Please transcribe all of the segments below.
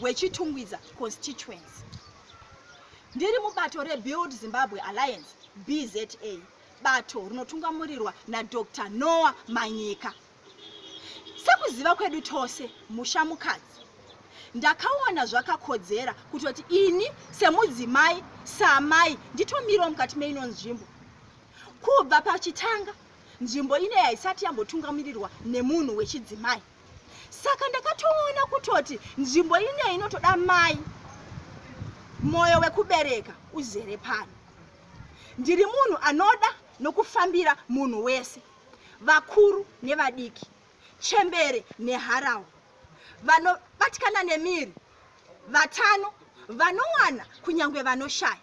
weChitungwiza constituency. Ndiri mubato reBuild Zimbabwe Alliance, BZA, bato rinotungamurirwa naDr Noah Manyika. Sekuziva kwedu tose, musha mukadzi. Ndakaona zvakakodzera kutoti ini semudzimai, samai, nditomirawo mukati meino nzvimbo. Kubva pachitanga, nzvimbo ine haisati yambotungamurirwa nemunhu wechidzimai. saka ndakatoona kutoti nzvimbo ineyi inotoda mai mwoyo wekubereka uzere pano ndiri munhu anoda nokufambira munhu wese vakuru nevadiki chembere neharawa vanobatikana nemiri vatano vanowana kunyange vanoshaya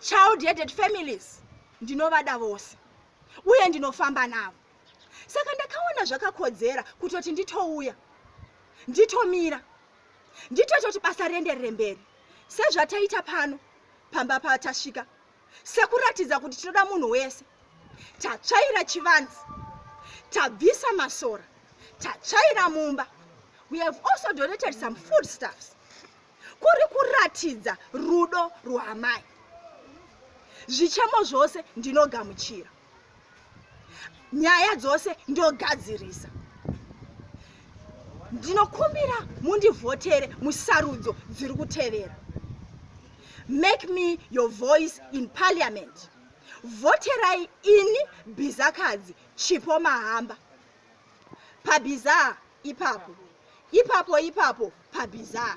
child headed families ndinovada vose uye ndinofamba navo saka ndakaona zvakakodzera kutoti nditouya nditomira nditototi basa rienderere mberi sezvataita pano pamba patasvika sekuratidza kuti tinoda munhu wese tatsvaira chivanzi tabvisa masora tatsvaira mumba we have also donated some food stuffs kuri kuratidza rudo rwaamai zvichemo zvose ndinogamuchira nyaya dzose ndogadzirisa ndinokumbira mundivhotere musarudzo dziri kutevera make me your voice in parliament vhoterai ini bhizakadzi chipo mahamba pabhizaa ipapo ipapo ipapo pabhizaa